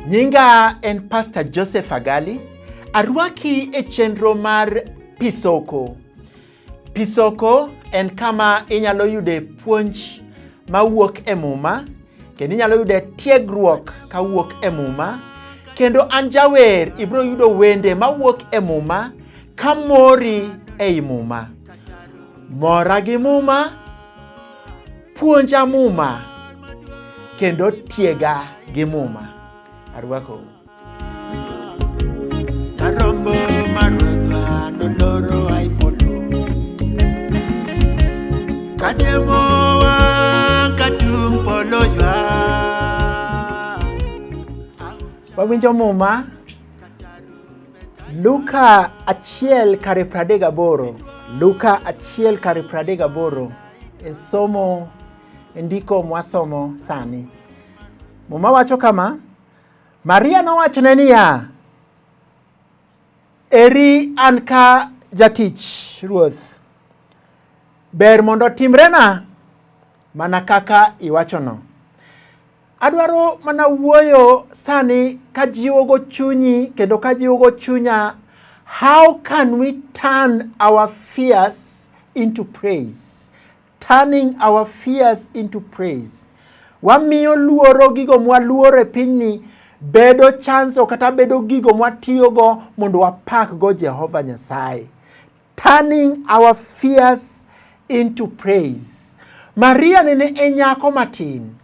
Nyinga en Pastor Joseph Agali. Arwaki e chenro mar Pisoko. Pisoko en kama inyalo yude puonj mawuok e Muma kendo inyalo yude tiegruok kawuok e Muma kendo an jawer ibiro yudo wende mawuok e Muma ka mori ei Muma. Mora gi Muma, puonja Muma kendo tiega gi Muma. Arwakou. Wawinjo muma Luka achiel kare pradek gaboro Luka achiel kare pradek gaboro e somo e ndiko mwasomo sani. Muma wacho kama, Maria nowachone niya, Eri an ka jatich Ruoth, ber mondo timrena mana kaka iwachono. Adwaro mana wuoyo sani ka jiwogo chunyi kendo ka jiwogo chunya how can we turn our fears into praise? Turning our fears into praise. Wamiyo luoro gigo mwaluoro e pinyni bedo chanso kata bedo gigo mwatiyogo mondo wapakgo Jehova Nyasaye. Turning our fears into praise. Maria nene e nyako matin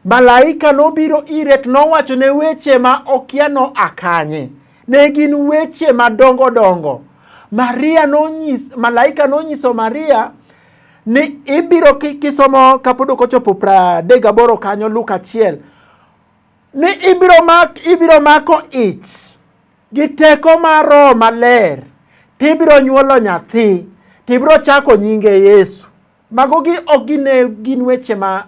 Malaika nobiro ire to nowachone weche ma okia no akanye. Ne gin weche madongo dongo. Maria nonyis, malaika nonyiso Maria ni ibiro kisomo kapod ok ochopo pradek gaboro kanyo Luka achiel ni ibiro, mak, ibiro mako ich gi teko mar Roho Maler tibiro nyuolo nyathi tibiro chako nyinge Yesu. Magogi ok gine gin weche ma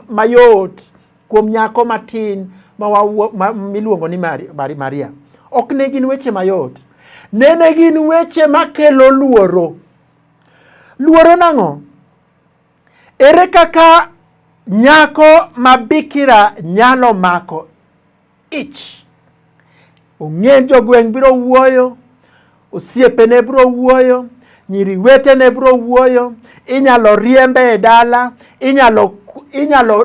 mayot kuom nyako matin ma ma, miluongo ni Maria. Ok ne gin weche mayot. Nene gin weche makelo luoro. Luoro nang'o? Ere kaka nyako ma bikira nyalo mako ich. Ong'e jogweng' biro wuoyo, osiepene biro wuoyo, nyiri wetene biro wuoyo, inyalo riembe e dala, inyalo inyalo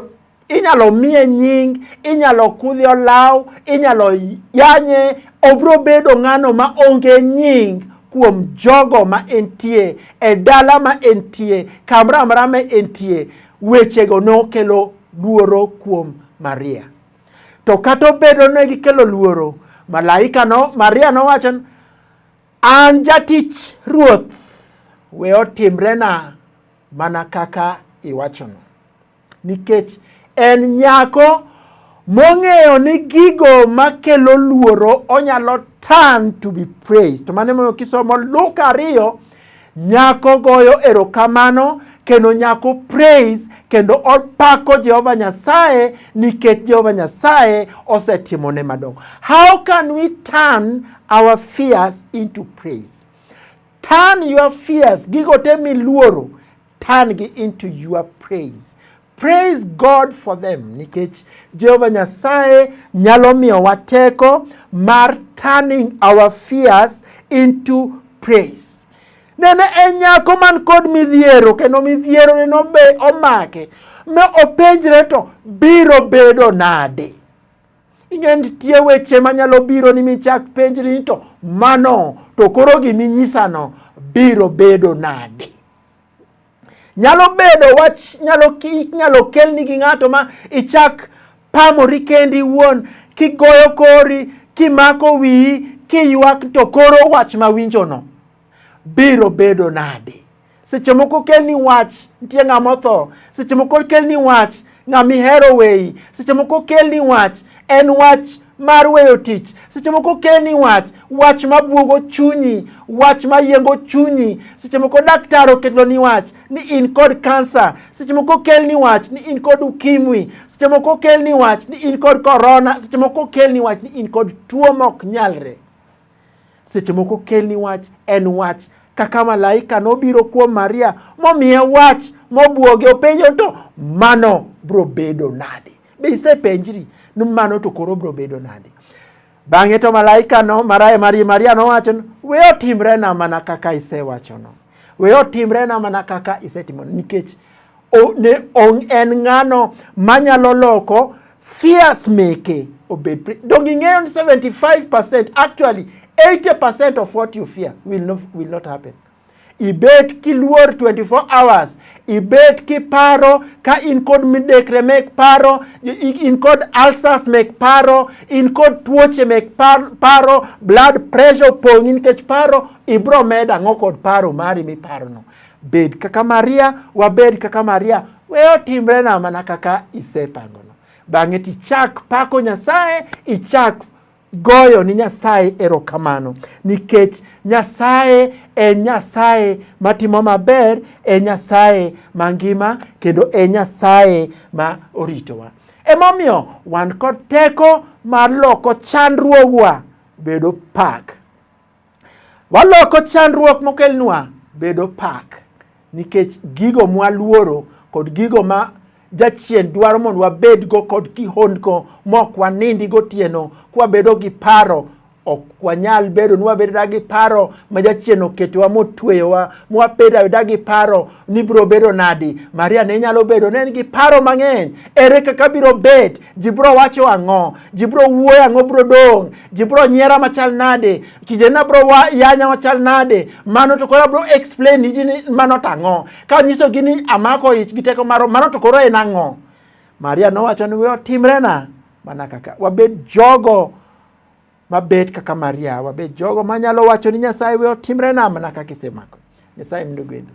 inyalo miye nying, inyalo kudhi olaw, inyalo yanye, obiro bedo ng'ano ma onge nying kuom jogo ma entie e dala ma entie kamoro amora ma entie wechego nokelo luoro kuom Maria. To kata obedo ne gikelo luoro, malaika no, Maria nowacho ni, an jatich Ruoth, we otimrena mana kaka iwachono. Nikech en nyako mong'eyo ni gigo makelo luoro onyalo turn to be praised. To mano emomiyo kisomo Luka ariyo Nyako goyo erokamano kendo nyako praise kendo opako Jehova Nyasaye nikech Jehova Nyasaye osetimone madongo. How can we turn our fears into praise? Turn your fears, gigo te miluoro turn gi into your praise praise God for them nikech Jehova Nyasaye nyalo miyowa teko mar turning our fears into praise. Nene en nyako man kod midhiero kendo midhiero ne nobe omake ma openjre to biro bedo nade. Ing'e nitie weche manyalo biro ni michak penjri ni to mano to koro giminyisano biro bedo nade. Nyalo bedo wach nyalo inyalo kelni gi ng'ato ma ichak pamori kendi iwuon kigoyo kori kimako wiyi kiywak to koro wach ma winjono biro bedo nade? Seche moko kelni wach nitie ng'ama otho, seche moko kelni wach Ng'ama ihero weyi, seche moko okelni wach, en wach mar weyo tich. Seche moko okelni wach, wach mabwogo chunyi, wach mayiengo chunyi. Seche moko daktar okeloni wach ni in kod kansa. Seche moko okelni wach ni in kod ukimwi. Seche moko okelni wach ni in kod korona. Seche moko okelni wach ni in kod tuo mok nyalre. Seche moko kelni wach en wach kaka malaika nobiro kuom Maria momiye wach mobwoge openjo to mano bro bedo nade? Be isepenjri ni mano to koro bro bedo nade? Bang'e to malaika no maraye Maria, Maria nowacho ni we otimrena mana kaka isewachono, we otimrena mana kaka isetimono, nikech ne on, en ng'ano manyalo loko fears meke obed donge ing'eyo ni 75% actually 80% of what you fear will not, will not happen ibet kiluor 24 hours ibet kiparo ka in kod midekre mek paro in kod ulcers mek paro in kod tuoche mek paro blood pressure opong'i nikech paro ibro medo ang'o kod paro mari miparono Bed kaka Maria, wabed kaka Maria, we otimre na mana kaka isepangono. Bang'e tichak pako Nyasaye, ichak goyo ni Nyasaye erokamano nikech Nyasaye e Nyasaye matimo maber, e Nyasaye mangima kendo e Nyasaye ma oritowa. Emomiyo wan kod teko mar loko chandruogwa bedo pak. Waloko chandruok mokelnwa bedo pak nikech gigo mwaluoro kod gigo ma jachien dwaro mondo wabedgo kod kihondko mok wanindi gotieno kwabedo gi paro ok wanyal bedo ni wabeda gi paro ma jachien oketowa motweyowa mwabeda beda gi paro ni biro bedo nadi maria ne nyalo bedo ne en gi paro mang'eny ere kaka biro bet ji biro wacho ang'o ji biro wuoyo ang'o biro dong' ji bro nyiera machal nade kijana bro wa yanya machal nade mano to koro bro explain ni jini mano tang'o ka nyiso gi ni amako ich gi teko maro mano to koro en ang'o Maria nowacho ni weyo timrena mana kaka wabed jogo mabet kaka Maria wabed jogo manyalo wacho ni Nyasaye weyo timrena mana kaka isemako Nyasaye mndu gwedhu